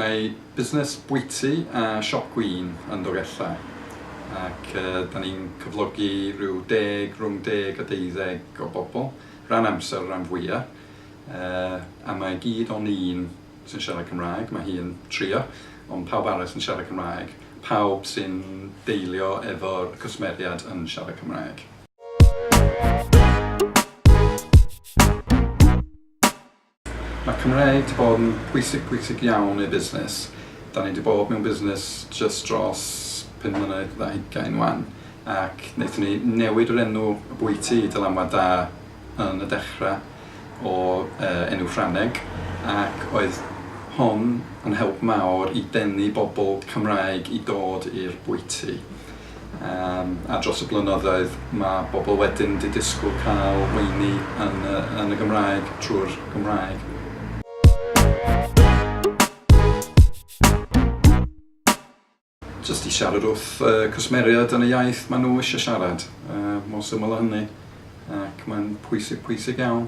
Mae busnes bwyty a siop gwin yn Dolgellau ac uh, da ni'n cyflogi rhyw deg, rhwng deg a deuddeg o bobl, rhan amser, rhan fwyaf, uh, a mae gyd o'n un sy'n siarad Cymraeg, mae hi'n trio, ond pawb arall sy'n siarad Cymraeg, pawb sy'n deilio efo'r cwsmeriad yn siarad Cymraeg. Mae Cymraeg 'di bod yn pwysig, pwysig iawn i'r busnes. Dan ni 'di bod mewn busnes jyst dros pum mlynedd ar hugain 'wan, ac wnaethon ni newid yr enw y bwyty i Dylanwad Da, yn y dechrau o enw Ffrangeg ac oedd hon yn help mawr i denu bobl Cymraeg i dod i'r bwyty a dros y blynyddoedd mae bobl wedyn 'di disgwyl cael weini yn y Gymraeg trwy'r Gymraeg. Jyst i siarad wrth y cwsmeriaid yn y iaith maen nhw eisiau siarad, mor syml â hynny, ac mae'n pwysig, pwysig iawn.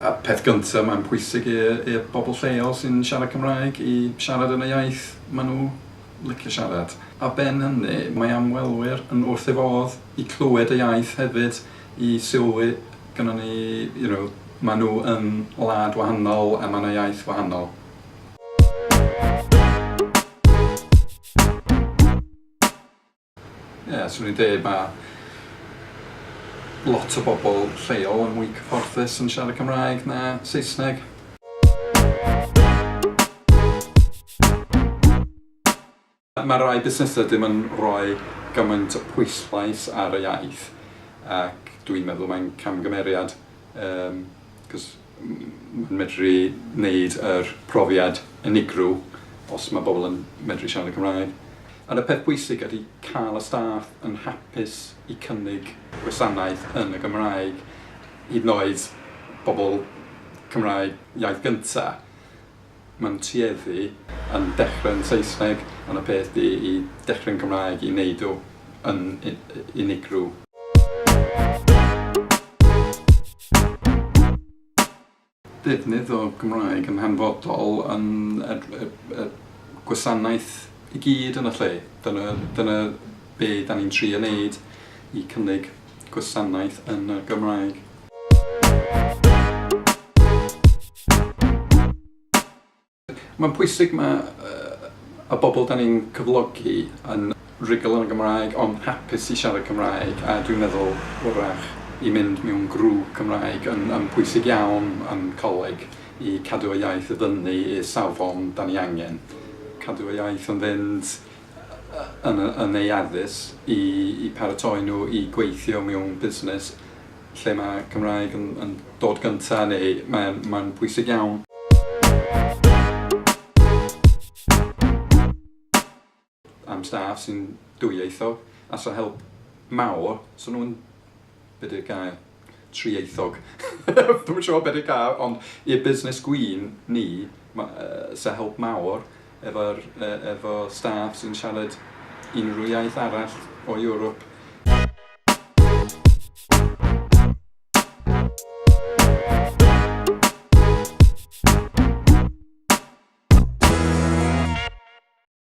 Y peth gyntaf mae'n pwysig i'r bobl lleol sy'n siarad Cymraeg i siarad yn y iaith maen nhw licio siarad. Ar ben hynny, mae ymwelwyr yn wrth ei fodd i clywed y iaith hefyd. i sylwi gynnon ni you know ma nhw yn wlad wahanol a ma na iaith wahanol. Ie swn i'n deud ma lot o bobl lleol yn mwy cyfforddus yn siarad Cymraeg na Saesneg. Mae rhai busnesau ddim yn rhoi gymaint o pwyslais ar y iaith ac dw i'n meddwl mae'n camgymeriad achos mae'n medru neud yr profiad unigryw os mae pobl yn medru siarad y Cymraeg. Ond y peth pwysig ydy cael y staff yn hapus i cynnig gwasanaeth yn y Gymraeg, hyd yn oed pobl Cymraeg iaith gynta'. Mae'n tueddu yn dechrau'n Saesneg ond y peth di i dechrau'n Gymraeg i neud o yn unigryw. Defnydd o Gymraeg yn hanfodol yn y gwasanaeth i gyd yn y lle. Dyna be da ni'n trio neud i cynnig gwasanaeth yn y Gymraeg. Mae'n pwysig mae y bobl dan ni'n cyflogi yn rhugl yn y Gymraeg ond hapus i siarad Cymraeg a dwi'n meddwl wrach i mynd mewn grŵp Cymraeg yn yn pwysig iawn yn coleg i cadw y iaith i fyny i'r safon dan ni angen cadw y iaith yn fynd yn eu addysg i paratoi nhw i gweithio mewn busnes lle mae Cymraeg yn dod gyntaf neu mae'n bwysig iawn. am staff sy'n dwyieithog a 'sa help mawr 'sa nhw'n Be di'r gair? Trieithog. Dwi'm yn siŵr be di'r gair ond i'r busnes gwin ni ma' yy sa help mawr efo'r yy efo staff sy'n siarad unrhyw iaith arall o Ewrop.